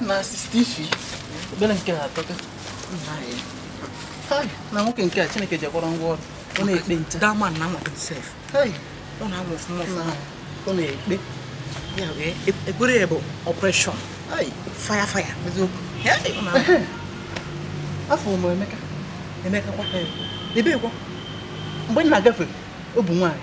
na sista ifi obere nke ha atọka na nwoke nke a chineke ji akwara ngwa ọrụ ọ na-ekpe nche dama na nwa sef ọ na-amụ ọfụma ọfụma ọ na-ekpe ya bụ ekpere ya bụ ọpreshọn faya faya eziokwu afọ ụmụ emeka emeka kwa ebekwa mgbe m na-agafe ọ bụ nwaanyị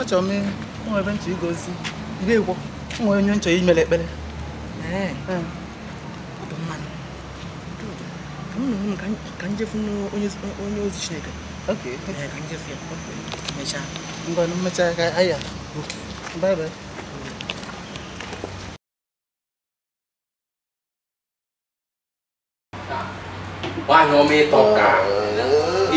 achọrọ m nwe ebe m chọ igozi ire egwo nwe onye m chọ imere ekpere ka m je fụ onye ozi chineke ka m je fụ ya mechaa ngwa mechaa ka aya bye bye nwaanyị ọma ị tọka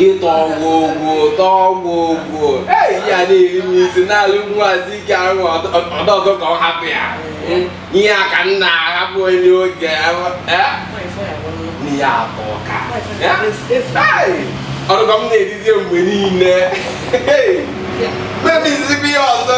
ịtọ ọgwụ ogwu ụtọ ọgwụ ogwu eyi ya na-eri m isi na-alụ nwazi ike ahụ ọdọ ọzọ ka ọ hapụ ya ihe a ka nna ahapụ onye oge n'ihe atọ ka ọrụkọ m na-erizie mgbe niile mebizizikwa ihe ọzọ